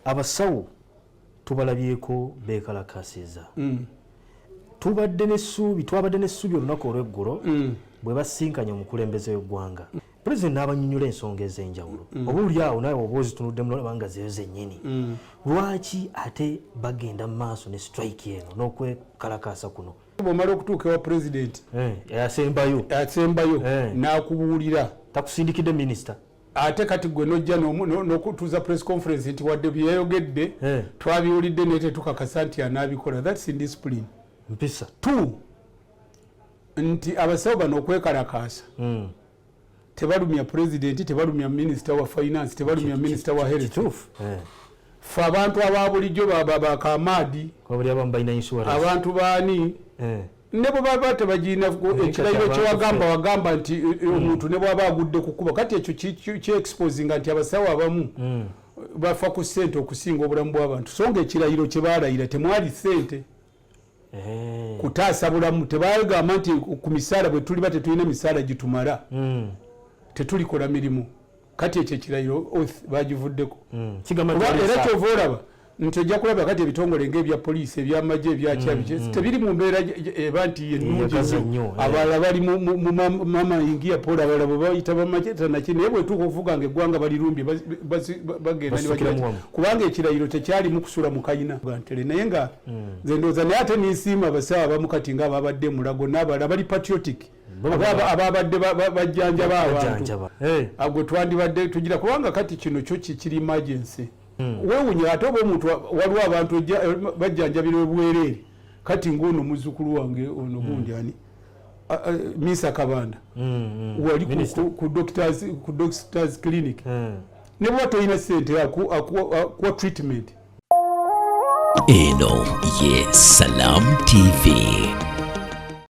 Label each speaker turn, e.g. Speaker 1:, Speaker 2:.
Speaker 1: abasawo tubalabyeko bekalakasiza mm. tubadde nesuubi twabadde nesuubi olunaku olweggulo mm. bwe basinkanye omukulembeze wegwanga pulezidenti n'abanyonyola ensonga ez'enjawulo mm. oba oli awo naawe oba ozitunuddemu nolaba nga zeyo zennyini mm. lwaki ate bagenda mu maaso ne strike eno n'okwekalakaasa kuno bwomala okutuuka ewa
Speaker 2: pulezidenti eh, asembayo
Speaker 1: asembayo eh.
Speaker 2: n'akubuulira takusindikidde
Speaker 1: minisita ate kati gwe
Speaker 2: nojja nokutuuza press conference nti wadde byeyayogedde eh. twabiwulidde naye tetukakasa nti anaabikola thats indiscipline mpisa t nti abasawo bano okwekalakaasa hmm. tebalumya pulezidenti tebalumya minisita wa finance tebalumya minisita wa health eh. fe abantu ababulijjo bakamaadi abantu baani eh. ne bwe baba tebagirina ekirayiro kyewagamba wagamba nti e, e, omuntu ne bwaba agudde kukuba kati ekyo kyexposinga nti abasawo abamu mm. bafa ku sente okusinga obulamu bw'abantu so nga ekirayiro kye balayira temwali sente eh. kutaasa bulamu tebagamba nti ku misaala bwe tuliba tetulina misaala gitumala mm. tetulikola mirimu kati ekyo ekirayiro oth bagivuddeko hmm, era kyova olaba nti ojja kulaba kati ebitongole ngaebya poliisi ebyamagye ebyakyabi hmm, hmm. tebiri mu mbeera eba nti yenungi nnyo eh. abalala bali mamaingia pole abalala bwebayita bamagye tanaki naye bwetuuka okuvuga nga eggwanga balirumbye bagenda kubanga ekirayiro tekyalimu kusula mukayina gantele naye nga nze ndowooza naye ate ninsiima abasawo abamu kati nga ababadde emulago n'abalala bali patriotic ababadde bajjanjaba abantu eh. agwe twandibadde tugira kubanga kati kino kyo kikiri emergency hmm. wewunya ate oba omuntu waliwo abantu eh, bajjanjabira obwereere kati ngaono muzukulu wange ono hmm. gundi ani misa kabanda hmm, wali ku doctors clinic ne bwa tolina sente akuwa treatment
Speaker 3: eno
Speaker 2: ye
Speaker 3: salam tv